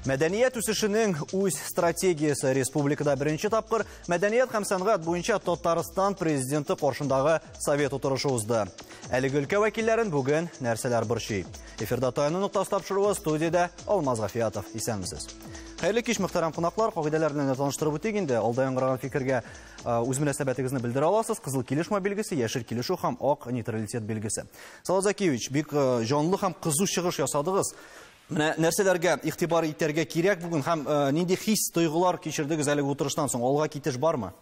Мәдәният үсешенең үз стратегиясе республикада беренче тапкыр мәдәният һәм сәнгать буенча Татарстан президенты каршындагы совет утырышы узды. Әлеге өлкә вәкилләрен бүген нәрсәләр борчый? Эфирда Таяну ноктасы тапшыруы студиядә Алмаз Гафиятов. Исәнмесез. Хәерле кич, мөхтәрәм кунаклар. Кагыйдәләр белән таныштырып үтик инде. Алда яңгыраган фикергә үз мөнәсәбәтегезне белдерә аласыз. Кызыл килешмә билгесе, яшел килешү һәм ак нейтралитет билгесе. Салават Закиевич, бик җанлы һәм кызу чыгыш ясадыгыз. Менә нәрсәләргә игътибар итәргә кирәк бүген һәм нинди хис, тойгылар кичердегез әлеге утырыштан соң? Алга китеш бармы?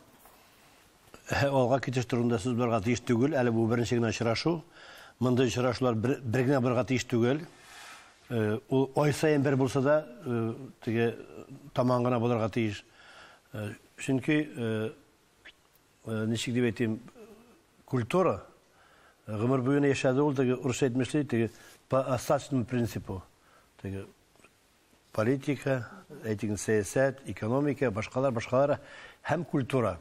алга китеш турында сүз барырга тиеш түгел, әле бу беренче генә очрашу. Мондый очрашулар бер, бер генә барырга тиеш түгел. Ул ай саен бер булса да, теге таман гына булырга тиеш. Чөнки ничек дип әйтим, культура гомер буена яшәде ул теге урысча әйтмешли, теге по остаточному принципу. Теге политика, әйтегез, сәясәт, экономика, башкалар, башкалар һәм культура.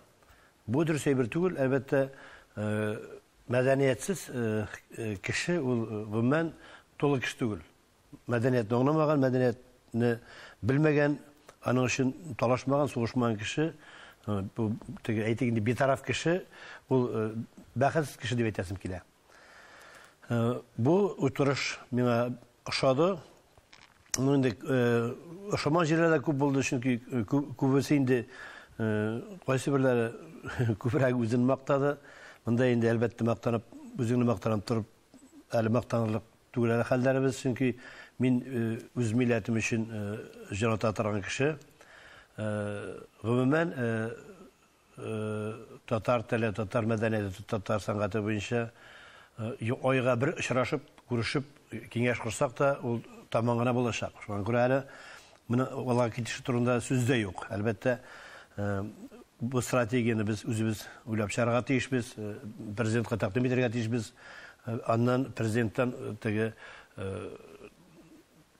Бу дөрес әйбер түгел, әлбәттә, мәдәниятсез кеше ул гомумән тулы кеше түгел. Мәдәниятне аңламаган, мәдәниятне белмәгән, аның өчен талашмаган, сугышмаган кеше, бу теге әйтик инде битараф кеше, ул бәхетсез кеше дип әйтәсем килә. Э, бу утырыш миңа ошады ну инде э, ошамаган җирләр дә күп булды чөнки э, күбесе инде кайсы берләре күбрәк үзен мактады монда инде әлбәттә мактанып үзеңне мактанып торып әле мактанырлык түгел әле хәлләребез чөнки мин үз милләтем өчен җан ата торган кеше гомумән Татар теле, татар мәдәнияте, татар сәнгате буенча айга бер очрашып, күрешеп, киңәш корсак та, ул таман гына булачак. Шуңа күрә әле моны алга китеше турында сүз дә юк. Әлбәттә, бу стратегияне без үзебез уйлап чыгарга тиешбез, президентка тәкъдим итәргә тиешбез. Аннан президенттан теге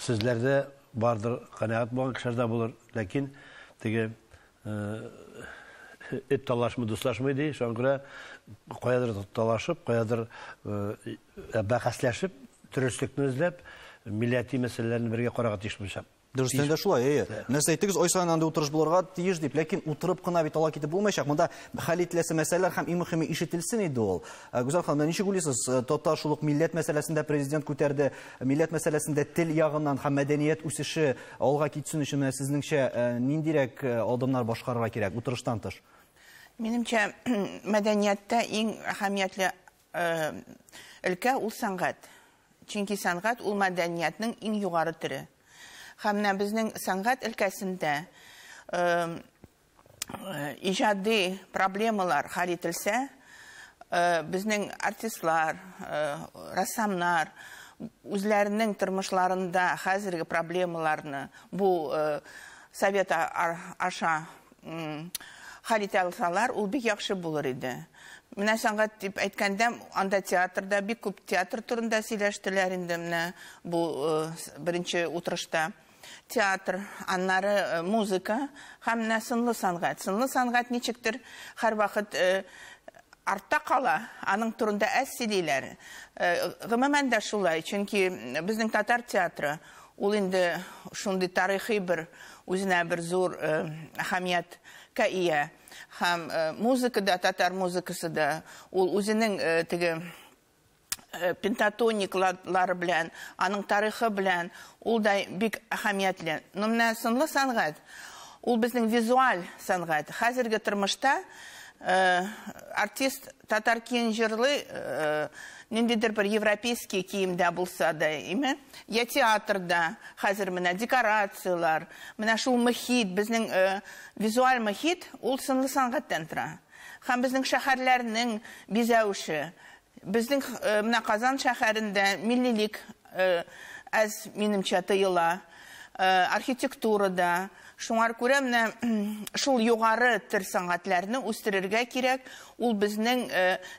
Сүзләрдә бардыр, канәгать булган кешеләр дә булыр, ләкин теге эт талашмый, дуслашмый ди, шуңа күрә каядыр талашып, каядыр бәхәсләшеп, дөреслекне эзләп, милләти мәсьәләләрне бергә карарга тиеш булачак. Дөрестән дә шулай, әйе. Менә сез әйттегез, ай саен андый утырыш булырга тиеш дип, ләкин утырып кына бит ала китеп булмаячак. Монда хәл ителәсе мәсьәләләр һәм иң мөһиме ишетелсен иде ул. Гүзәл ханым, ничек уйлыйсыз, татар шул ук милләт мәсьәләсен дә президент күтәрде. Милләт мәсьәләсендә тел ягыннан һәм мәдәният үсеше алга китсен өчен менә сезнеңчә э, ниндирәк э, адымнар башкарырга кирәк утырыштан тыш? Минемчә, мәдәнияттә иң әһәмиятле э, өлкә ул сәнгать. Чөнки сәнгать ул мәдәниятнең иң югары төре. Һәм менә безнең сәнгать өлкәсендә иҗади проблемалар хәл ителсә, безнең артистлар, рәссамнар үзләренең тормышларында хәзерге проблемаларны бу совет аша хәл итә алсалар, ул бик яхшы булыр иде. Менә сәнгать дип әйткәндә, анда театрда бик күп театр турында сөйләштеләр инде менә бу беренче утырышта. Театр, аннары музыка һәм менә сынлы сәнгать. Сынлы сәнгать ничектер һәрвакыт артта кала, аның турында әз сөйлиләр. Гомумән дә шулай, чөнки безнең татар театры ул инде шундый тарихи бер үзенә бер зур әһәмият ка ия һәм музыка да татар музыкасы да ул үзенең теге э, пентатониклар белән, аның тарихы белән, ул да бик әһәмиятле. Но менә сынлы сәнгать, ул безнең визуаль сәнгать. Хәзерге тормышта э, артист татар киен җырлый, э, ниндидер бер европейский киемдә булса да, име? Я театрда, хәзер менә декорациялар, менә шул мөхит, безнең э, визуаль мөхит, ул сынлы сәнгатьтән тора. Һәм безнең шәһәрләрнең бизәвеше. Безнең менә Казан шәһәрендә миллилек әз, минемчә, тыела. Архитектура да. Шуңар күрә менә шул югары төр сәнгатьләрне үстерергә кирәк. Ул безнең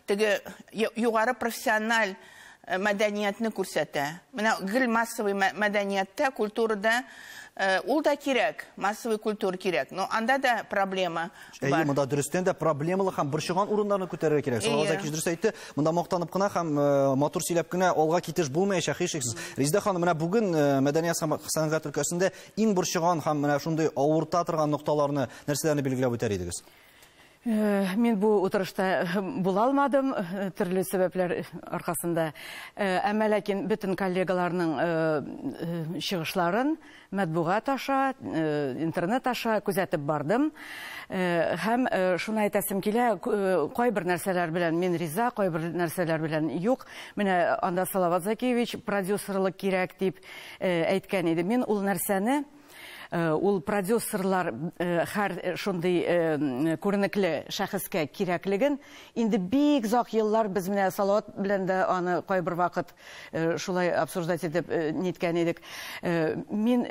теге югары профессиональ мәдәниятне күрсәтә. Менә гел массовый мәдәнияттә, культурада ул да кирәк, массовый культура кирәк, но анда да проблема бар. Әйе, монда дөрестән дә проблемалы һәм борчыган урыннарны күтәрергә кирәк. Шуңа да кич дөрес әйтте. Монда мактанып кына һәм матур сөйләп кенә алга китеш булмаячак һичшиксез. Резеда ханым, менә бүген мәдәният һәм сәнгать өлкәсендә иң борчыган һәм менә шундый авырта торган нокталарны, нәрсәләрне билгеләп үтәр идегез? Э, мин бу утырышта э, була алмадым э, төрле сәбәпләр аркасында әмма ләкин бөтен коллегаларның чыгышларын матбугат аша интернет аша күзәтеп бардым һәм шуны әйтәсем килә кайбер нәрсәләр белән мин риза кайбер нәрсәләр белән юк менә анда салават закиевич продюсерлык кирәк дип әйткән иде мин ул нәрсәне Э, ул продюсерлар э, һәр э, шундый күренекле шәхескә кирәклеген инде бик зак еллар без менә салават белән дә аны кайбер вакыт шулай обсуждать итеп ниткән идек мин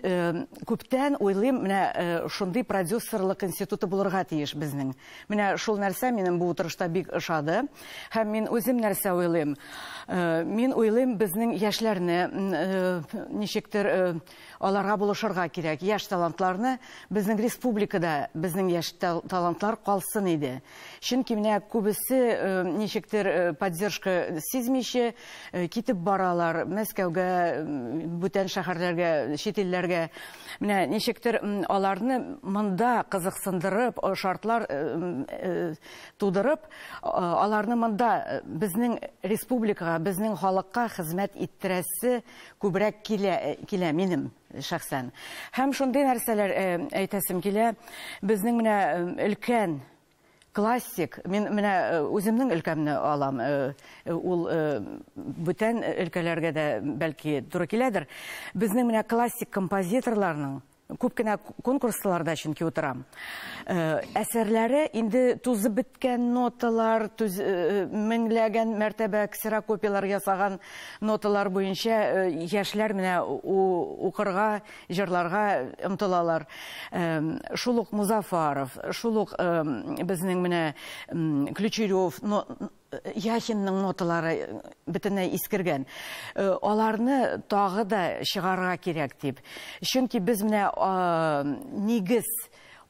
күптән уйлыйм менә шундый продюсерлык институты булырга тиеш безнең менә шул нәрсә минем бу утырышта бик ошады һәм мин үзем нәрсә уйлыйм мин уйлыйм безнең яшьләрне ничектер Аларга булышырга кирәк, яшь талантларны безнең республикада безнең яшь талантлар калсын иде. Чөнки менә күбесе ничектер поддержка сизмичә китеп баралар Мәскәүгә, бүтән шәһәрләргә, чит илләргә. Менә ничектер аларны монда кызыксындырып, шартлар тудырып, аларны монда безнең республикага, безнең халыкка хезмәт иттерәсе Күбрәк килә, килә минем шәхсән. Һәм шундый нәрсәләр әйтәсем килә, безнең менә өлкән классик мин менә э, үземнең өлкәмне алам э, э, ул бүтән өлкәләргә дә бәлки туры киләдер безнең менә классик композиторларның Күп кенә конкурсларда чөнки утырам. Әсәрләре инде тузып беткән ноталар, меңләгән мәртәбә ксерокопияләр ясаган ноталар буенча яшьләр менә укырга, җырларга омтылалар. Шул ук Музафаров, шул ук безнең менә Ключерев Яхинның ноталары бөтенләй искергән. Аларны тагы да чыгарга кирәк дип. Чөнки без менә нигез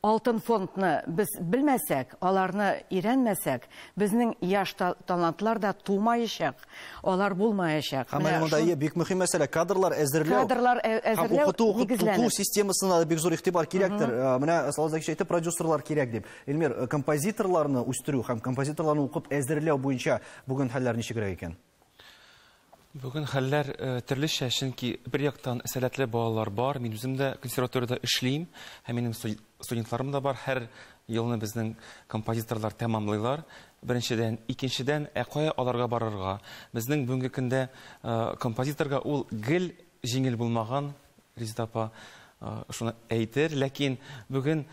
алтын фондны без белмәсәк, аларны өйрәнмәсәк, безнең яшь талантлар да тумаячак, алар булмаячак. Һәм менә монда ие бик мөһим мәсьәлә кадрлар әзерләү. Кадрлар әзерләү нигезләнеп. Укыту системасына да бик зур игътибар кирәктер. Менә Салават Закич әйтте, продюсерлар кирәк дип. Эльмир, э, композиторларны үстерү һәм композиторларны укып әзерләү буенча бүген хәлләр ничегрәк икән? Бүген хәлләр э, төрлечә, чөнки бер яктан сәләтле балалар бар. Мин үзем дә консерваториядә эшлим, һәм минем студентларым да бар. Һәр елны безнең композиторлар тәмамлыйлар. Беренчедән, икенчедән, ә кая аларга барырга? Безнең бүгенге көндә э, композиторга ул гел Җиңел булмаган, Резеда апа шуны әйтер. Ләкин бүген,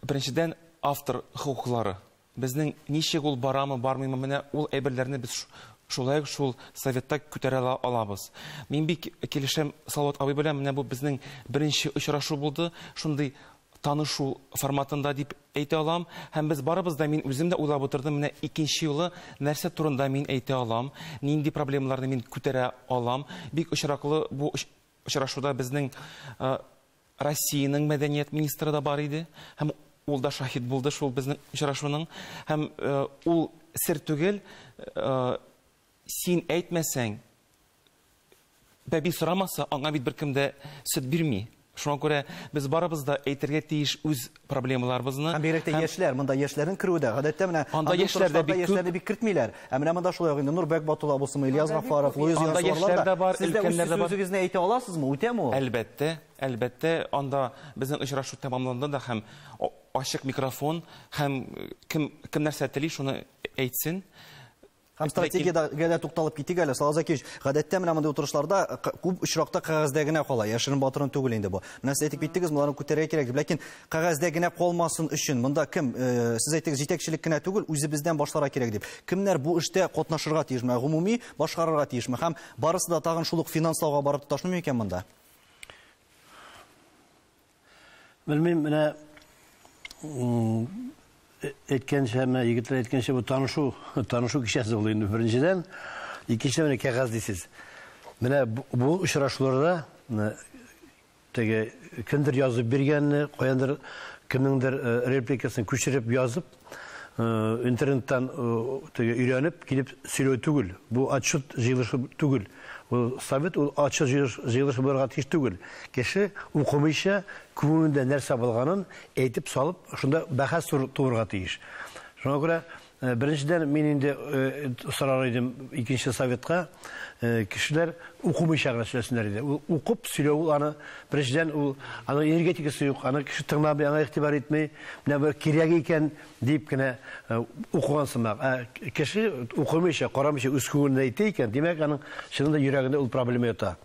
беренчедән, автор хокуклары. Безнең ничек ул, барамы, бармыймы, менә ул әйберләрне без шулай ук шул Советта күтәрә алабыз. Мин бик килешәм Салават абый белән, менә бу безнең беренче очрашу булды, шундый танышу форматында дип әйтә алам. Һәм без барыбыз да, мин үзем дә уйлап утырдым, менә икенче юлы нәрсә турында мин әйтә алам, нинди проблемаларны мин күтәрә алам. Бик очраклы бу очрашуда безнең Россиянең мәдәният министры да бар иде. Һәм ул да шаһит булды шул безнең очрашуның. Һәм ул сер түгел, син әйтмәсәң, Бәби сорамаса, аңа бит беркем дә сөт бирми. Шуңа күрә без барыбыз да әйтергә тиеш үз проблемаларыбызны. Һәм бигрәк тә яшьләр, монда яшьләрнең керүе дә, гадәттә менә анда яшьләр дә бик яшьләрне бик кертмиләр. Ә менә монда шулай ук инде Нурбәк Батул абысымы, Ильяс Гафаров, Луиз Янсуарлар да бар, өлкәннәр дә бар. Сез үзегезне әйтә аласызмы? Үтәме ул? Әлбәттә, әлбәттә, анда безнең очрашу тәмамланды да һәм ачык микрофон һәм кем кем нәрсә тели, шуны әйтсен. Һәм стратегиядә дә тукталып китик әле, Салаза Кич. Гадәттә менә мондый утырышларда күп очракта кәгазьдә генә кала. Яшерен батырын түгел инде бу. Менә сез әйтеп киттегез, моны күтәрергә кирәк дип. Ләкин кәгазьдә генә калмасын өчен монда кем, э, сез әйтегез, җитәкчелек кенә түгел, үзебездән башларга кирәк дип. Кемнәр бу эштә катнашырга тиеш? Менә гомуми башкарырга тиешме? Һәм барысы да тагын шул ук финанслауга барып тоташмый микән монда? Белмим, менә әйткәнчә, менә егетләр әйткәнчә, бу танышу, танышу кичәсе булды инде беренчедән. Икенчедән менә кәгазь дисез. Менә бу очрашуларда теге кемдер язып биргәнне, каяндыр кемнеңдер репликасын күчереп язып, Э, интернеттан э, теге өйрәнеп килеп сөйләү түгел бу отчет җыелышы түгел ул совет ул отчет җыелышы булырга тиеш түгел кеше укымыйча күңелендә нәрсә булганын әйтеп салып шунда бәхәс туырга тиеш шуңа күрә э, беренчедән мин инде сорар идем икенче советка э, кешеләр укымыйча гына сөйләсеннәр иде. Ул укып сөйләү ул аны беренчедән ул аның энергетикасы юк, аны кеше тыңламый, аңа игътибар итми. Менә бер кирәк икән дип кенә э, укыган сымак. Ә кеше укымыйча, карамыйча үз күңелендә әйтә икән, димәк, аның чынында йөрәгендә ул проблема ята.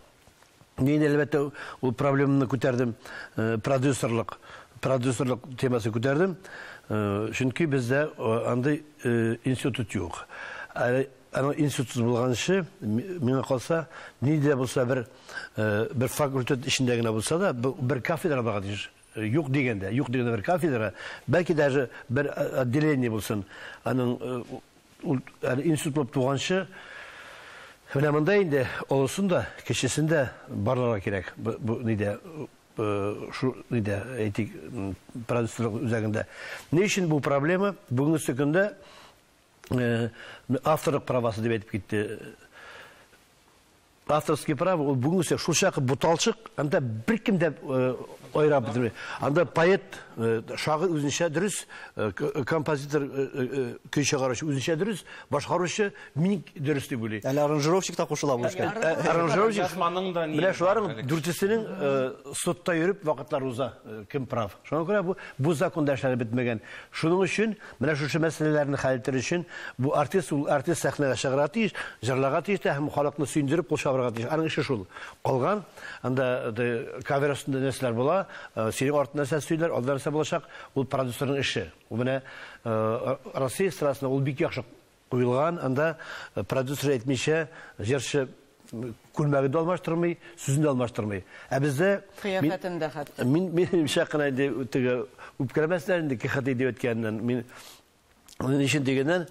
Мин әлбәттә ул проблеманы күтәрдем, продюсерлык, продюсерлык темасын күтәрдем. Чөнки бездә андый институт юк. Аны институт булганчы, миңа калса, ни дә булса бер бер факультет эчендә генә булса да, бер кафедра булырга тиеш. Юк дигәндә, юк дигәндә бер кафедра, бәлки даже бер отделение булсын. Аның Ул әле институт булып туганчы менә монда инде олысын да, кечесен дә барларга кирәк. Бу нидә шу нидә әйтик продюсерлык үзәгендә. Ни өчен бу проблема? Бүгенге көндә авторлык правасы дип әйтеп китте Авторские права ул бүгенге сүз шулчак буталчык, анда беркем дә айрап бетерми. Анда поэт, шагыйрь үзенчә дөрес, композитор, көй чыгаручы үзенчә дөрес, башкаручы мин дөрес дип уйлый. Әле аранжировщик та кушыла бу эшкә. Аранжировщик язманың да ни. Менә шуларның дүртесенең судта йөреп вакытлары уза, кем прав. Шуңа күрә бу бу законда эшләре бетмәгән. Шуның өчен Менә шушы мәсьәләләрне хәл итәр өчен бу артист, ул артист сәхнәгә чыгарга тиеш, җырларга тиеш тә һәм халыкны сөендереп кул чабарга тиеш. Аның эше шул. Калган анда кавер өстендә нәрсәләр була, э, синең артында нәрсә сөйләр, алда нәрсә булачак, ул продюсерның эше. Ул менә э, Россия эстрадасында ул бик яхшы Куелган, анда продюсер әйтмичә, җырчы күлмәген дә алмаштырмый, сүзен дә алмаштырмый. Ә бездә кыяфәтен дә хәтта. Мин мин шакына инде теге үпкәләмәсләр инде КХТ дип әйткәннән. Мин ни өчен дигәннән,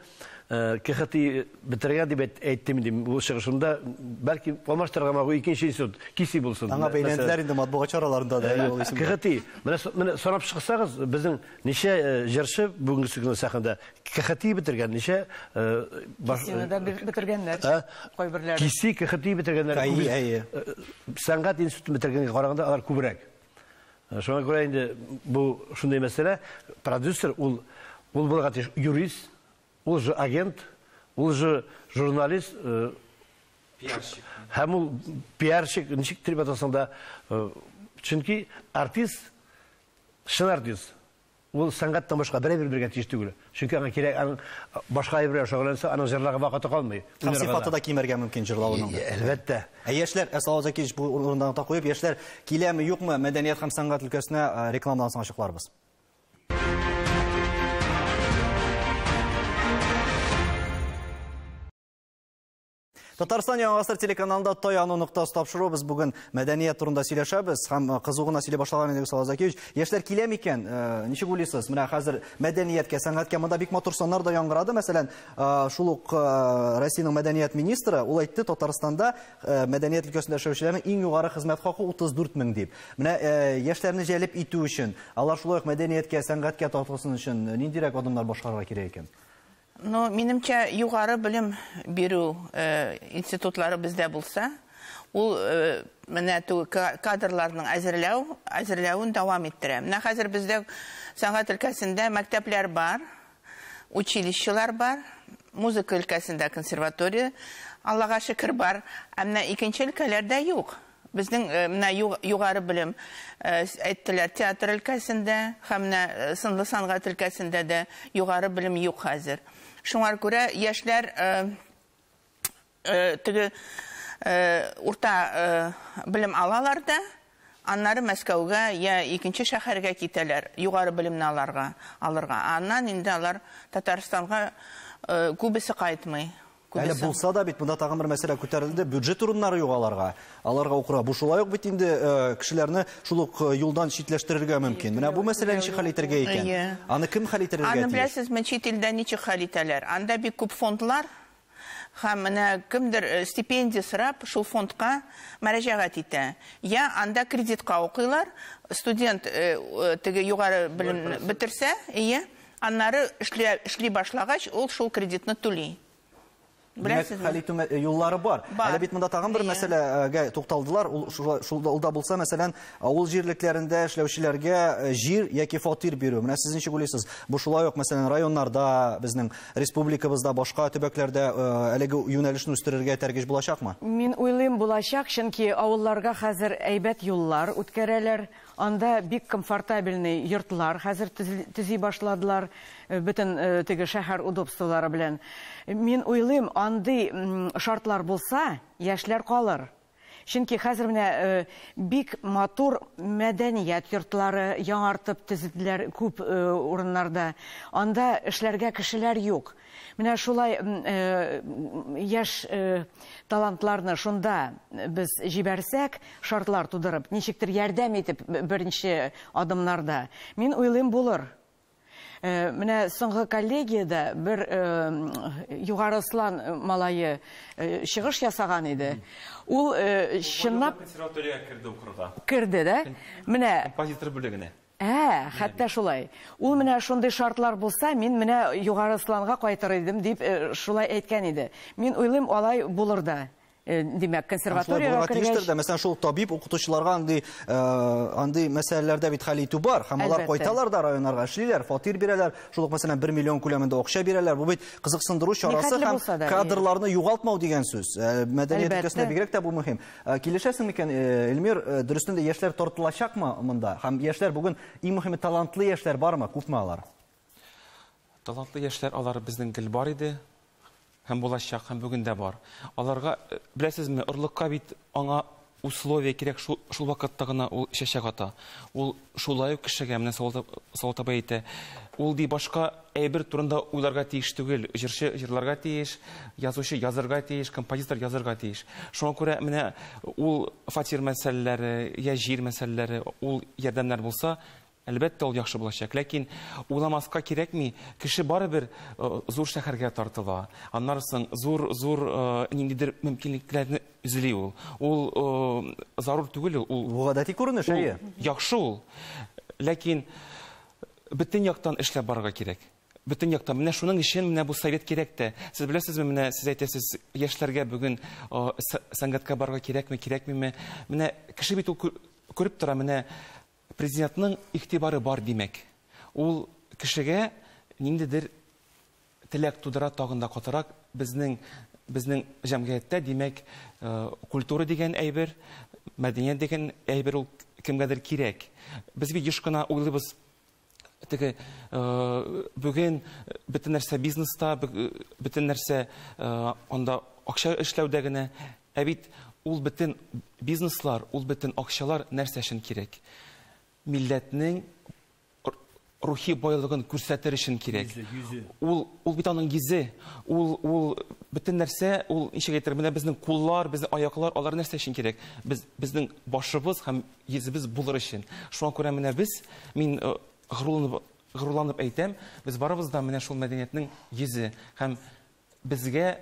э, КХТ бетергән дип әйттем инде бу чыгышымда. Бәлки алмаштырырга мабу икенче институт киси булсын. Аңа бәйләнделәр инде матбугат чараларында да ул исем. КХТ. Менә менә сорап чыксагыз, безнең ничә э, җырчы бүгенге көнне сәхнәдә КХТИ бетергән ничә? Кисине дә бетергәннәр кайберләре. Киси, КХТИ бетергәннәр. Әйе, әйе. Сәнгать институтын бетергәнгә караганда алар күбрәк. Шуңа күрә инде бу шундый мәсьәлә, продюсер ул ул булырга тиеш юрист, ул же агент, ул же журналист, пиарщик. Һәм ул пиарщик, ничек дип атасаң да, чөнки артист, чын артист, Ул сәнгатьтән башка берәй бер биргә тиеш түгел. Чөнки аңа кирәк, аның башка әйбер белән шөгыльләнсә, аның җырларга вакыты калмый. Һәм сыйфаты да кимәргә мөмкин җырлавының. Әлбәттә. Ә яшьләр, ә Салават Закиевич бу урында нота куеп, яшьләр киләме, юкмы мәдәният һәм сәнгать өлкәсенә рекламадан соң ачыкларбыз. Татарстан Яңа гасыр телеканалында Таяну ноктасы тапшыру без бүген мәдәният турында сөйләшәбез һәм э, кызу гына сөйли башлаган идек Салаз Закевич. Яшьләр килә микән? Э, ничек уйлыйсыз? Менә хәзер мәдәнияткә, сәнгатькә монда бик матур саннар да яңгырады. Мәсәлән, э, шул ук Россиянең мәдәният министры ул әйтте, Татарстанда мәдәният өлкәсендә эшләүчеләрнең иң югары хезмәт хакы 34 мең дип. Менә яшьләрне җәлеп итү өчен, алар шулай ук мәдәнияткә, сәнгатькә тартылсын өчен ниндирәк адымнар башкарырга кирәк икән? Ну, минемчә, югары белем бирү институтлары бездә булса, ул менә кадрларның әзерләү, әзерләвен дәвам иттерә. Менә хәзер бездә сәнгать өлкәсендә мәктәпләр бар, училищелар бар, музыка өлкәсендә консерватория, Аллага шөкер, бар. Ә менә икенче өлкәләрдә юк. Безнең менә югары белем, әйттеләр, театр өлкәсендә һәм менә сынлы сангат өлкәсендә дә югары белем юк хәзер. Шуңар күрә яшьләр теге урта белем алалар да, аннары Мәскәүгә я икенче шәһәргә китәләр, югары белемне аларга, алырга. Аннан инде алар Татарстанга күбесе кайтмый. Әле булса да бит монда тагын бер мәсьәлә күтәрелде, бюджет урыннары юк аларга. Аларга укырга. Бу шулай ук бит инде э, кешеләрне шул ук э, юлдан читләштерергә мөмкин. Менә бу мәсьәләне ничек хәл итәргә икән? Аны кем хәл итәргә тиеш? Аны беләсезме, чит илдә ничек хәл итәләр? Анда бик күп фондлар һәм менә кемдер э, стипендия сорап шул фондка мәрәҗәгать итә. Я анда кредитка укыйлар, студент теге югары белем бетерсә, ие, Аннары эшли эшли башлагач, ул шул кредитны түли. Димәк, хәл итү юллары бар. Әле бит монда тагын бер мәсьәләгә тукталдылар. Ул шул да булса, мәсәлән, авыл җирлекләрендә эшләүчеләргә э, җир яки фатир бирү. Менә сез ничек уйлыйсыз? Бу шулай ук, мәсәлән, районнарда, безнең республикабызда, башка төбәкләрдә э, әлеге юнәлешне үстерергә этәргеч булачакмы? Мин уйлыйм, булачак, чөнки авылларга хәзер әйбәт юллар үткәрәләр. Анда бик комфортабельный йортлар хәзер төзи башладылар, бөтен теге шәһәр удобстволары белән. Мин уйлыйм, андый шартлар булса, яшьләр калыр. Чөнки хәзер менә бик матур мәдәният йортлары яңартып төзеделәр күп урыннарда. Анда эшләргә кешеләр юк. Менә шулай яшь талантларны шунда без җибәрсәк, шартлар тудырып, ничектер ярдәм итеп беренче адымнарда, мин уйлыйм, булыр. Менә соңгы коллегиядә бер Югары Слан малае чыгыш ясаган иде. Ул чынлап... Консерваториягә керде укырга. Керде, да? Менә... Композитор бүлегенә. Ә, хәтта шулай. Ул менә шундый шартлар булса, мин менә Югары Ысланга кайтыр идем, дип шулай әйткән иде. Мин уйлыйм, алай булыр да. Димәк, консерваториягә кергәч... Мәсәлән, шул табиб укытучыларга андый, андый мәсьәләләрдә бит хәл итү бар. Һәм алар кайталар да районнарга, эшлиләр, фатир бирәләр. Шул ук, мәсәлән, 1 миллион күләмендә акча бирәләр. Бу бит кызыксындыру чарасы һәм кадрларны югалтмау дигән сүз. Мәдәният өлкәсендә бигрәк тә бу мөһим. Э, килешәсең микән, э, Эльмир, э, дөрестән дә яшьләр тартылачакмы монда? Һәм яшьләр бүген иң мөһиме талантлы яшьләр бармы, күпме алар? Талантлы яшьләр алар безнең гел бар иде һәм булачак һәм бүген дә бар. Аларга беләсезме, орлыкка бит аңа условия кирәк шул, шул вакытта гына ул чәчәк ата. Ул Шулай ук кешегә, менә Салават абый әйтә, ул ди башка әйбер турында уйларга тиеш түгел, җырчы җырларга тиеш, язучы язырга тиеш, композитор язырга тиеш. Шуңа күрә менә ул фатир мәсьәләләре, йә җир мәсьәләләре, ул ярдәмнәр булса, әлбәттә, ул яхшы булачак. Ләкин уйламаска кирәкми, кеше барыбер зур шәһәргә тартыла, аннары соң зур-зур ниндидер мөмкинлекләрне Эзли ул. Ул зарур түгел ул. Бу гадәти күренеш, әйе. Яхшы ул. Ләкин бөтен яктан эшләп барырга кирәк. Бөтен яктан. Менә шуның өчен менә бу совет кирәк тә. Сез беләсезме, менә сез әйтәсез, яшьләргә бүген сәнгатькә барырга кирәкме, кирәкмиме? Менә кеше бит ул күреп тора, менә Президентның игътибары бар, димәк. Ул кешегә ниндидер теләк тудыра тагын да катырак. Безнең, безнең җәмгыятьтә, димәк, культура дигән әйбер, мәдәният дигән әйбер ул кемгәдер кирәк. Без бит еш кына уйлыйбыз, теге бүген бөтен нәрсә бизнеста, бөтен нәрсә анда акча эшләүдә генә. Ә бит ул бөтен бизнеслар, ул бөтен акчалар нәрсә өчен кирәк? Милләтнең рухи байлыгын күрсәтер өчен кирәк. Ул ул бит аның йөзе. Ул ул бөтен нәрсә, ул ничек әйтер, менә безнең куллар, безнең аяклар, алар нәрсә өчен кирәк? Без безнең башыбыз һәм йөзебез булыр өчен. Шуңа күрә менә без, мин горурланып горурланып әйтәм, без барыбыз да менә шул мәдәниятнең йөзе һәм безгә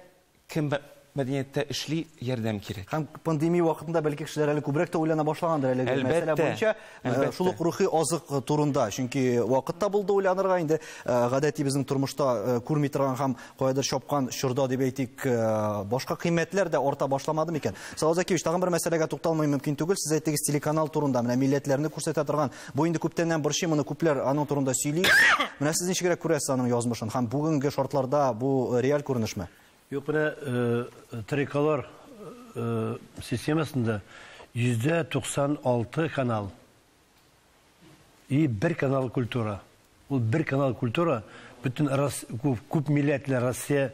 кем мәдәнияттә эшли, ярдәм кирәк. Һәм пандемия вакытында бәлки кешеләр әле күбрәк тә уйлана башлагандыр әлеге Әлбәттә. мәсьәлә буенча. Э, Әлбәттә. Шул ук рухи азык турында, чөнки вакыт та булды уйланырга, инде э, гадәти безнең тормышта э, күрми торган һәм каядыр чапкан чорда дип әйтик, э, башка кыйммәтләр дә арта башламады микән? Салават Закевич, тагын бер мәсьәләгә тукталмый мөмкин түгел. Сез әйттегез телеканал турында, менә милләтләрне күрсәтә торган. Бу инде күптәннән борчый, моны күпләр аның турында сөйли. Менә сез ничегрәк күрәсез аның язмышын һәм бүгенге шартларда бу э, реаль күренешме? Юк, менә э, телекалар системасында 96 канал И бер канал культура. Ул бер канал культура бөтен күп милләтле Россия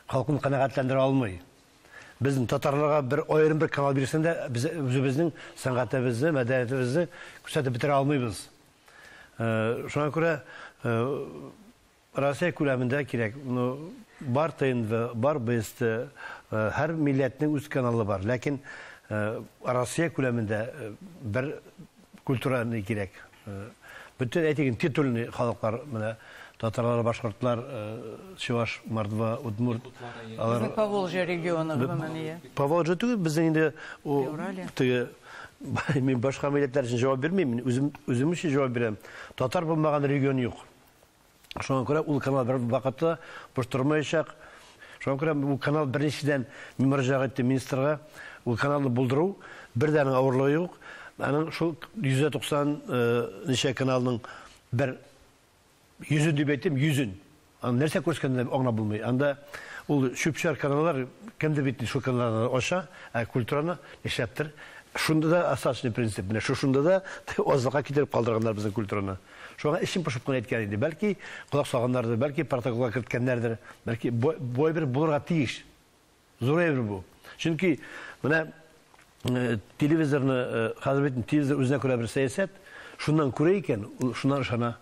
халкын канәгатьләндерә алмый. Без татарларга бер аерым бер канал бирсәң дә, без үзебезнең сәнгатебезне, мәдәниятебезне күрсәтеп бетерә алмыйбыз. Шуңа күрә Россия күләмендә кирәк, ну, бар ТНВ, бар БСТ, һәр милләтнең үз каналы бар, ләкин Россия күләмендә бер культура ни кирәк. Бөтен әйтик, титульный халыклар, менә татарлар, башкортлар, чуваш, мордва, удмурт, алар. Безнең Поволжье регионы гомумән, ия. Поволжье түгел, безнең инде у, теге, мин башка милләтләр өчен җавап бирмим, мин үзем, үзем өчен җавап бирәм. Татар булмаган регион юк. Шуңа күрә ул канал бер вакытта буш тормаячак. Шуңа күрә бу канал беренчедән мин мөрәҗәгать иттем министрга. Ул каналны булдыру, бер дә аның авырлыгы юк. Аның шул 190 э, ничә каналның бер йөзен дип әйтим, йөзен. Аны нәрсә күрсәткәнен аңлап булмый. Анда ул чүпчәр каналлар кемдер бит шул каналларны ача, ә культураны нишләптер. Шунда да остаточный принцип. Менә шушында да азлыкка китереп калдырганнар безнең культураны. Шуңа эчем пошып кына әйткән инде. Бәлки, колак салганнардыр, бәлки, протоколга керткәннәрдер. Бәлки, бу әйбер булырга тиеш. Зур әйбер бу. Чөнки менә э, телевизорны, э, хәзер бит телевизор үзенә күрә бер сәясәт, шуннан күрә икән, шуннан ышана.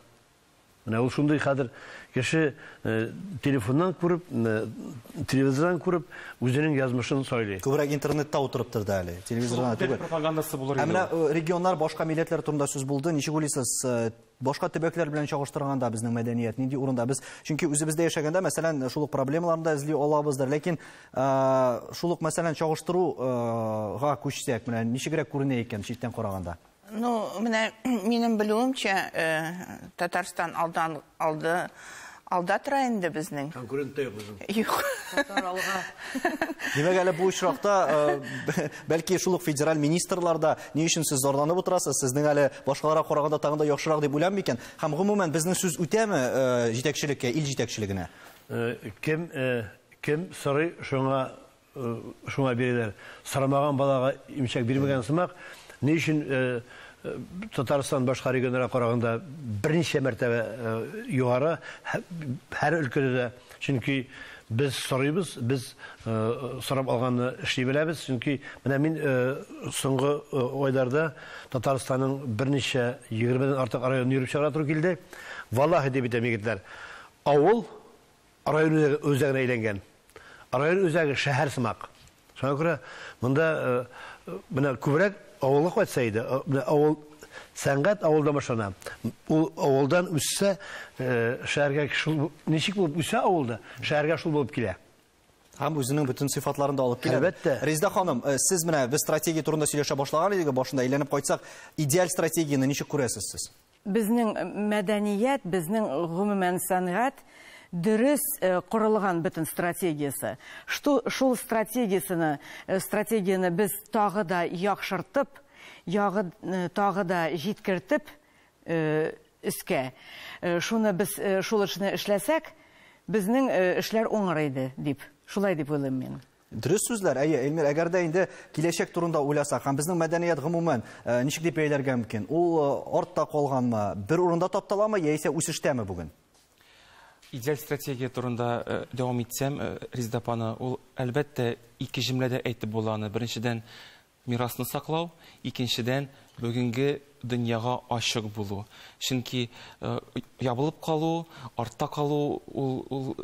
Менә ул шундый хәзер кеше Э, телефоннан күреп, э, телевизордан күреп, үзенең язмышын сайлый. Күбрәк интернетта утырыптыр да әле, телевизордан түгел. Пропагандасы булыр инде. Ә э, регионнар, башка милләтләр турында сүз булды. Ничек уйлыйсыз, башка төбәкләр белән чагыштырганда безнең мәдәният нинди урында? Без чөнки үзебездә яшәгәндә, мәсәлән, шул ук проблемаларны да эзли алабыздыр. Ләкин шул ук, мәсәлән, чагыштыруга күчсәк, менә ничегрәк күренә икән читтән караганда? Ну, менә минем белүемчә, э, Татарстан алдан алды алда тора инде безнең. Конкурент та юк безнең. Юк. Димәк, әле бу очракта, э, бәлки шул ук федераль министрлар да ни өчен сез зарланып утырасыз, сезнең әле башкаларга караганда тагын да яхшырак дип уйламый икән. Һәм гомумән безнең сүз үтәме э, җитәкчелеккә, ил җитәкчелегенә? Э, кем кем сорый, шуңа Шуңа бирәләр. Сорамаган балага имчәк бирмәгән сымак. Ни өчен Татарстан башка регионнарга караганда берничә мәртәбә югары һәр өлкәдә дә? Чөнки без сорыйбыз, без сорап алганны эшли беләбез. Чөнки менә мин соңгы айларда Татарстанның берничә 20 дән артык районын йөреп чыгарга туры килде. Валлаһи дип әйтәм, егетләр, авыл, Район үзәге үзәгенә әйләнгән. Район үзәге шәһәр сымак. Шуңа күрә монда менә күбрәк авылга кайтса иде. Менә авыл, сәнгать авылдан башлана. Ул авылдан үссә, шәһәргә шул ничек булып үсә авылда, шәһәргә шул булып килә. Һәм үзенең бөтен сыйфатларын да алып килә. Әлбәттә. Резда ханым, сез менә без стратегия турында сөйләшә башлаган идек башында, әйләнеп кайтсак, идеаль стратегияне ничек күрәсез сез? Безнең мәдәният, безнең, гомумән, сәнгать дөрес корылган бөтен стратегиясе. Шту, шул стратегиясене, стратегияне без тагы да яхшыртып, ягы, тагы да җиткертеп өскә, шуны без, шул эшне эшләсәк, безнең эшләр уңыр иде, дип, шулай дип уйлыйм мин. Дөрес сүзләр, әйе, Эльмир, әгәр дә инде киләчәк турында уйласак, һәм безнең мәдәният гомумән э, ничек дип бәяләргә мөмкин? Ул э, артта калганмы, бер урында тапталамы, яисә үсештәме бүген? Идеаль стратегия турында э, дәвам итсәм, Резидапаны, ул әлбәттә ике җөмләдә әйтеп була аны. Беренчедән, Мирасны саклау, икенчедән, бүгенге дөньяга ачык булу. Чөнки ябылып калу, артта калу, ул, ул,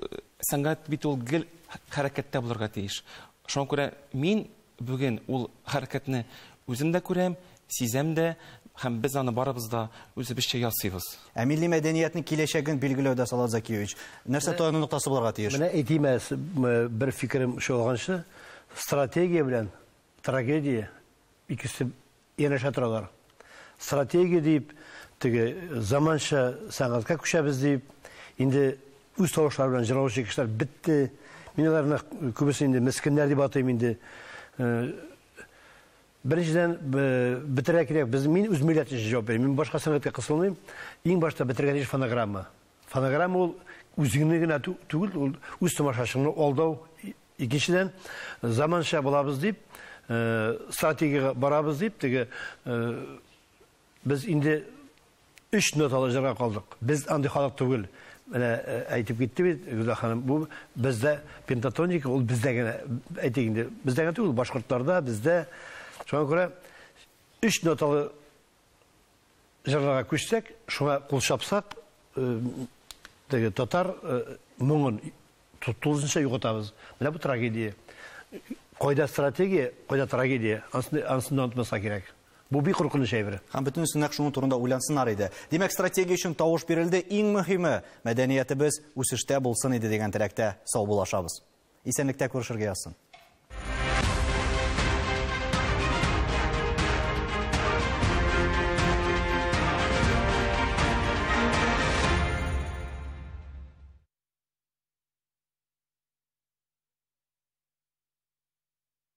сәнгать бит ул гел хәрәкәттә булырга тиеш. Шуңа күрә мин бүген ул хәрәкәтне үзем дә күрәм, сизәм дә һәм без аны барыбыз да үзебезчә ясыйбыз. Ә милли мәдәниятнең киләчәген билгеләүдә, Салават Закиевич, нәрсә таяну ноктасы булырга тиеш? Менә әйтим әле, бер фикерем чолганчы, стратегия белән Трагедия, икесе янәшә торалар. Стратегия дип, теге заманча сәнгатькә күчәбез дип, инде үз тавышлары белән җырлаучы кешеләр бетте. Мин аларны күбесе инде мескеннәр дип атыйм инде. Беренчедән, бетерә кирәк, без мин үз милләт өчен җавап бирәм. Мин башка сәнгатькә кысылмыйм. Иң башта бетергән иш фонограмма. Фонограмма ул үзеңне генә түгел, ул үз тамашачыңны алдау, Икенчедән, заманча булабыз дип, стратегиягә барабыз дип, теге без инде өч ноталы җырга калдык. Без андый халык түгел. Менә әйтеп китте бит Гүзәл ханым, бу бездә пентатоника, ул бездә генә, әйтик инде, бездә генә түгел, башкортларда, бездә. Шуңа күрә өч ноталы җырларга күчсәк, шуңа кул чапсак, теге татар моңын тулысынча югатабыз. Менә бу трагедия. Кайда стратегия, кайда трагедия, ансын онытмаска кирәк. Бу бик куркыныч әйбер. Һәм бөтенесе нәкъ шуның турында уйлансыннар иде. Димәк, стратегия өчен тавыш бирелде, иң мөһиме, мәдәниятебез үсештә булсын иде дигән теләктә саубуллашабыз. Исәнлектә күрешергә язсын.